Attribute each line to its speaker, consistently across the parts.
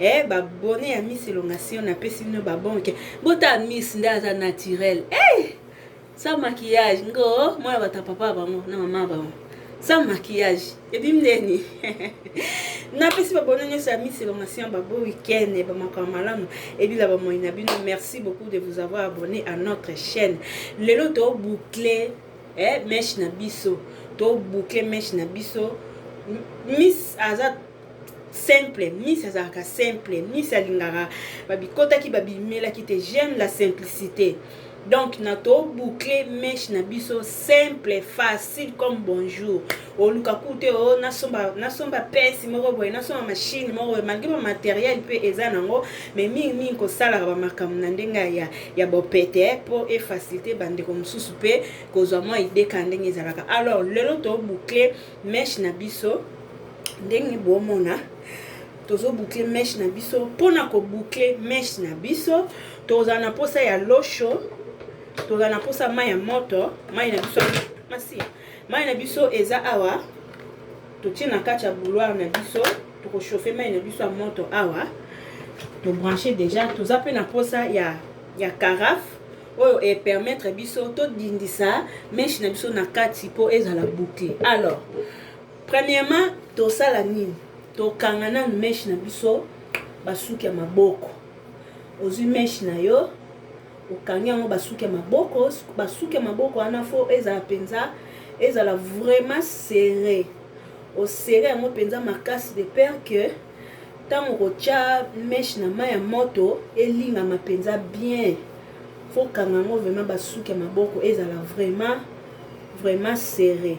Speaker 1: eh ba bonne ya miss elongation na pesi bino ba bonke bota miss nde aza naturel eh sans maquillage ngo mwana bata papa bango na mama bango sans maquillage ebimi ndeni napesi babono nyonso ya misi elongation babo week-end bamakambo malamu ebila bamoi na bino merci beaucoup de vous avoir abonné à notre chaîne lelo toboucle eh, meshe na biso toboucle meshe na biso miss aza simple miss azalaka simple miss alingaka babikotaki babimelaki te j'aime la simplicité donc na toboucle meshe na biso simple facile comme bonjour oluka kute o oh, nasomba nasomba pesi moko boye nasomba mashine moko boye malgre bamateriel mpe eza nango mai mingi mingi kosalaka bamakambo na ndenge ya, ya bopete mpo efacilite bandeko mosusu mpe kozwa mwa ideka ndenge ezalaka alors lelo toboucle meshe na biso ndenge bomona tozo boucle meshe na biso mpona ko boucle meshe na biso tozala na mposa ya losho tozala na mposa mai ya moto mai na biso masi mai na biso eza awa totie na kati ya bouloire na biso tokochauffe mai na biso ya moto awa tobranche déjà toza mpe na mposa ya ya carafe oyo epermettre biso todindisa meshe na biso na kati mpo ezala boucle alors Premierement tosala nini tokanga nanu meche na biso basuki ya maboko ozui meche na yo okangi yango basuki ya maboko basuki ya maboko wana fo ezala mpenza ezala vraiment serre osere yango mpenza makasi de pere que ntango kotya meshe na mai ya moto elingama mpenza bien fokanga yango vraiment basuki ya maboko ezala vraiment vraiment serre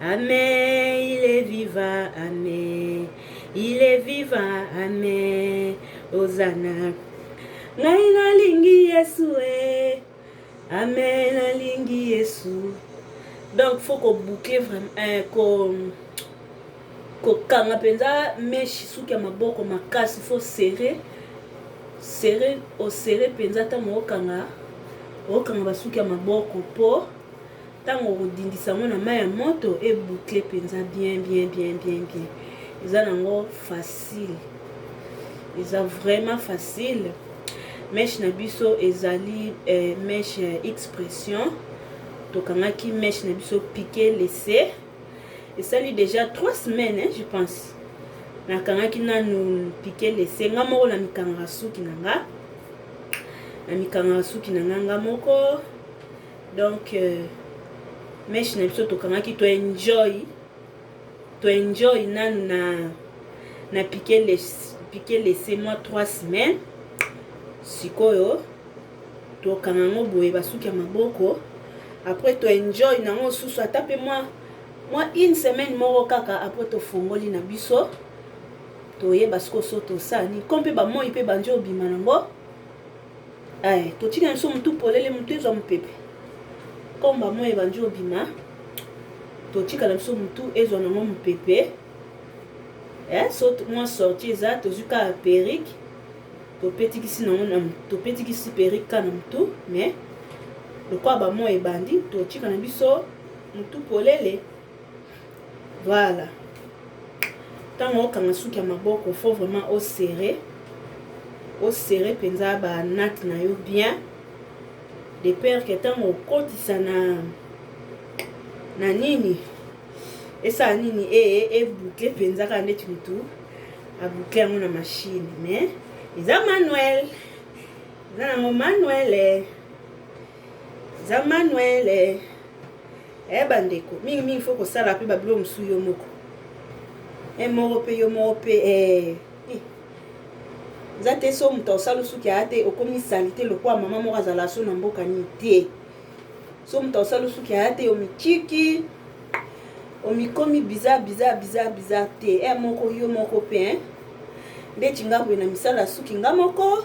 Speaker 1: Amen, il est vivant, Amen. Il est vivant, Amen. Hosanna. Ngai nalingi Yesu, eh. Amen, nalingi Yesu. Donc, faut qu'on boucle vraiment, eh, qu'on kokanga mpenza meshi suki ya maboko makasi faut serrer serrer osserre mpenza ntango okanga okanga basuki ya maboko mpo Tango okodindisa yango na mayi ya moto e boucler penza bien bien bien bien bien eza na ngo facile eza vraiment facile meshe na biso ezali eh, meshe ya expression tokangaki meshe na biso pique lese esali déjà trois semaines hein, je pense nakangaki nanu pique lese nga moko na mikangaka suki na nga na mikangaka suki na nga nga moko donc euh, meche na biso tokangaki to enjoy to enjoy nanu na na pique laisse pique laisse moi 3 semaines sikoyo tokanga yango boye basuki ya maboko après to enjoy nango susu ata mpe mwa mwa une semaine moko kaka après tofongoli na biso toyeba sikoyo so tosala nini ko mpe bamoi mpe bandi obima nango Aye totika biso mutu polele mutu ezwa mupepe comme ba moyi ebandi obima totikala biso mutu ezwa nango mupepe eh, so mwa sorti eza tozwi kaka perike topetikisi nango topetikisi perike ka na mutu mais lokola bamoyi ebandi totika na biso mutu polele Voilà tango okanga suki ya maboko faut vraiment o serrer o serrer penza ba natte na yo bien de peur que tango okotisa na na nini esala nini e e boucle penza kaka ndeti mutu a boucle yango na machine mais eza manuel eza nango manuel eh. za manuel eh, eh bandeko mingi mingi fo kosala mpe babilo mosusu yo moko e eh, moko mpe yo moko mpe eh, eh. eza te so moto osala osuki aya te okomi salite lokola mama moko azala so na mboka nini te so moto osala osuki aya te omitiki omikomi biza biza biza biza te e moko yo moko mpe ndeti nga boye na misala suki nga moko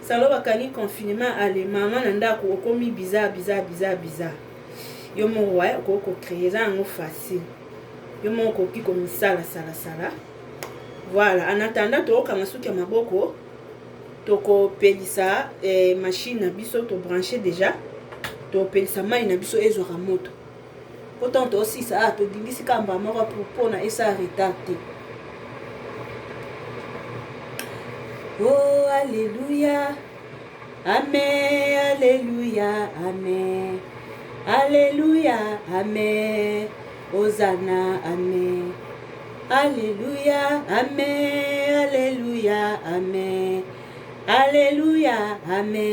Speaker 1: Salo bakangi confinement ale mama na ndaku okomi bizarre bizarre bizarre bizarre yo moko wa okoki ko créer eza yango facile yo moko okoki komisala sala sala voilà en attendant tokokanga suki ya maboko tokopelisa eh, machine na biso tobranche déjà topelisa mai na biso ezwaka moto po ntango tosilisa awa todindisi kaka mbala moko mpona esala retard te o oh, aleluya ame aleluya ame aleluya ame ozana ame aleluya ame aleluya ame aleluya ame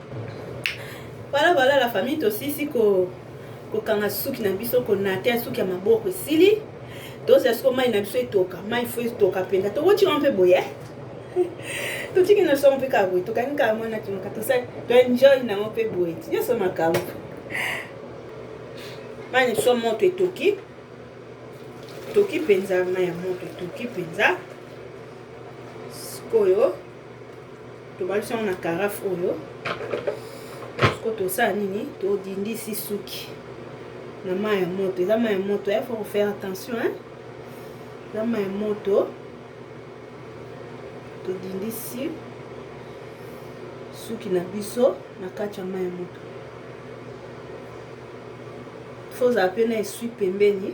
Speaker 1: Voilà voilà la famille tosisi ko kokanga suki na biso konate suki ya maboko esili tozela siko mai na biso etoka mai fo etoka mpenza tokotika mpe boye eh? totiki na songo mpe kaka boye tokangi kaka mwana timoka tosali toenjoy nango mpe boye nyonso makambo mai na biso moto etoki toki mpenza mai ya moto etoki mpenza sikoyo tobalisi yango na karafe oyo siko tosala nini todindisi suki na mai ya moto eza mai ya moto ya faut kofaire attention hein? eza mai ya moto todindisi suki na biso na kati ya mai ya moto fozala mpe na eswi pembeni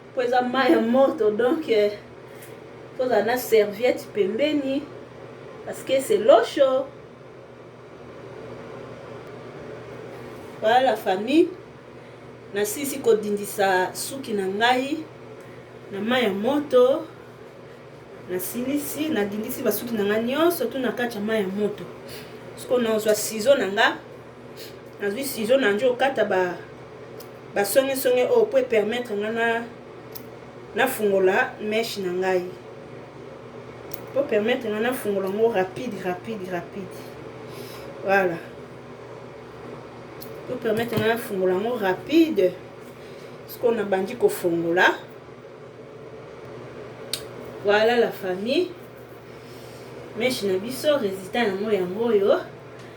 Speaker 1: Po eza mayi ya moto donc tozala na serviette pembeni parce que c'est l'eau chaude. Voilà la famille. Nasilisi kodindisa suki na ngai na mayi ya moto. Nasilisi, nadindisi basuki na ngai nyonso tu na kati ya mayi ya moto. Sikoyo nazwa sizo na ngai nazwi sizo na njo okata ba basongesonge oyo mpo epermettre nga na nafungola meshe na ngai mpo permettre nga nafungola yango rapide rapide rapide voilà mpo permettre nga nafungola yango rapide sikoyo nabandi kofungola voilà la famille meshe na biso résultat yango yango oyo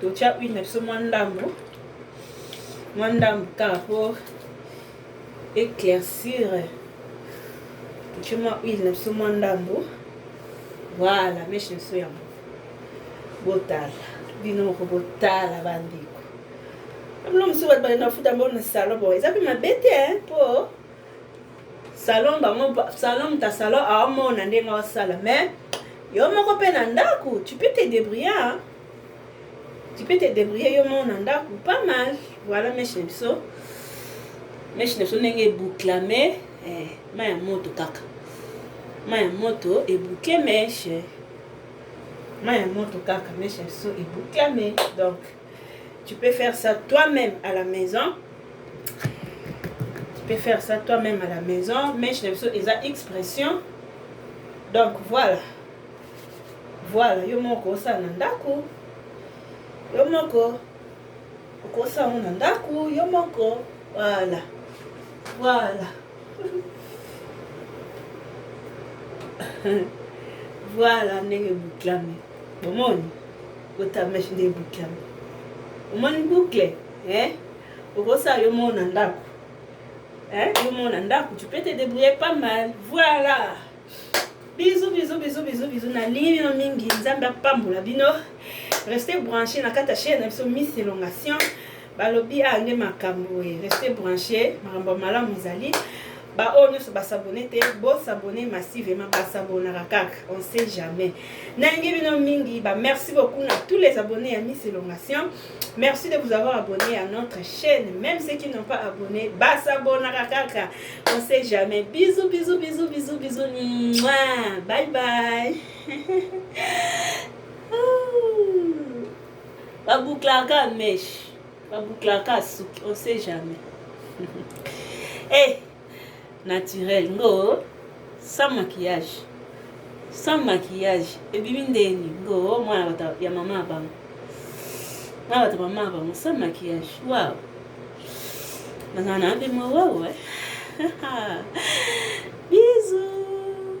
Speaker 1: totya huile na biso mwa ndambo mwa ndambo kaka po éclaircir totye mwa huile na biso mwa ndambo voilà meshe biso yango botala bino moko botala bandeko bino mosusu bato baye na futa mbo na salon bo eza mpe mabe te mpo Salon bango salon muta salon aomona ndenge osala mais yo moko mpe na ndako tu peux te débrouiller hein? tu peux te débrouiller yo moko na ndako pas mal voilà meshe na biso meshe na biso ndenge ebukla mais eh, ma ya moto kaka ma ya moto ebuke meshe ma ya moto kaka meshe na biso ebukla mais donc Tu peux faire ça toi-même à la maison. Tu peux faire ça toi-même à la maison. Mais je n'ai eza expression. Donc voilà. Voilà, yo moko ça na ndako. Yo moko okosa ngo na ndako, yo moko. Voilà. Voilà. voilà ndenge boklami bomoni Bota meche nde eboucle yango. Omoni boucle? Eh? Okosala yo moko na ndako. Hein? Yo moko na ndako, tu peux te débrouiller pas mal. Voilà. Bisous, bisous, bisous, bisous, bisous. Na lingi bino mingi. Nzambe apambola bino. Restez branchés na kata chaîne na biso Miss Elongation. balobi awa nde makambo e reste branche makambo ya malamu ezali baoyo nyonso basabone te bosabone massivement basabonaka kaka on sait jamais nalingi bino mingi ba merci beaucoup na tous les abonnés ya miss elongation merci de vous avoir abonné à notre chaîne même ceux qui n'ont pas abonné basabonaka kaka on sait jamais bisous bisous bisous bisous bisous Mouah. bye bye Ba bouclaka mèche, ba bouclaka suki, on sait jamais. eh, naturel ngo sans maquillage. Sans maquillage, ebimi ndeni ngo mwana bata ya mama ya bango. Mwana bata mama ya bango sans maquillage. Wow. Nazana mpe mwa wow eh. Bisous.